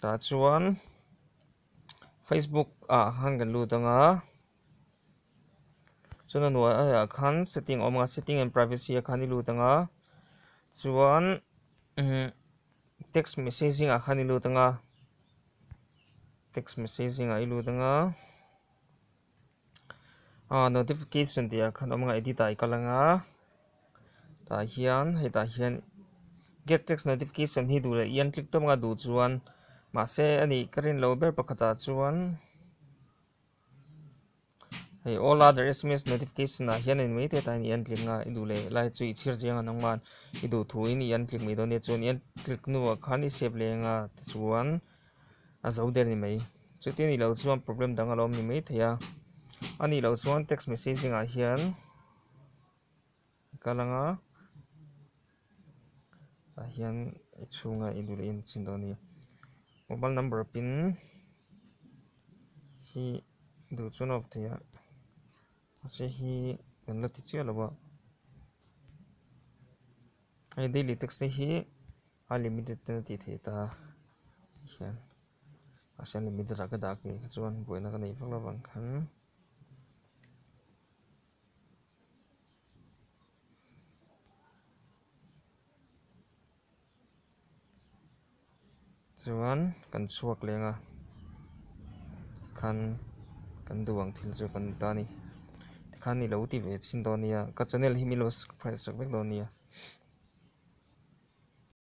tah chuan facebook ah khan kan lut anga chuan a hnuai ah ah khan setting a awm a setting and privacy ah khan i lut anga chuan imm text messaging ah khan i lut anga text messaging ah i lut anga. a notification tih ah khan awm ang a edit ah i kal ang a tah hian hei tah hian get text notification hi duh leh i an click tawp ang a duh chuan mahse a nih ka rin lo ber pakhat ah chuan hei all other sms notification ah hian en mai te ta hian i an click ang a i duh leh lai chu i chhir chiang an awm nghal i duh thu in i an click mai dawn nia chuan i an click hnu ah khan i save leh ang a tichuan a zo der ni mai. Chuti nih loh chuan problem dang a lo awm ni mai thei a, a nih loh chuan text messaging ah hian ka la nga, tah hian i chhunga i duh leh in chin dawn a ni. Mobile number pin hi duh chuan a awp thei a, mahse hi kan la ti chiah lo a, hei daily text te hi. A limited ten a tih theih ta a hian mahse unlimited ah ka dah a keh kha chuan buaina ka nei vak lo vang khan chuan kan chhuak leng a tikhan kan duh ang thil chu kan ni ta a ni tikhan nilo ti ve chin dawn nia ka channel hi milo subscribe vek dawn nia.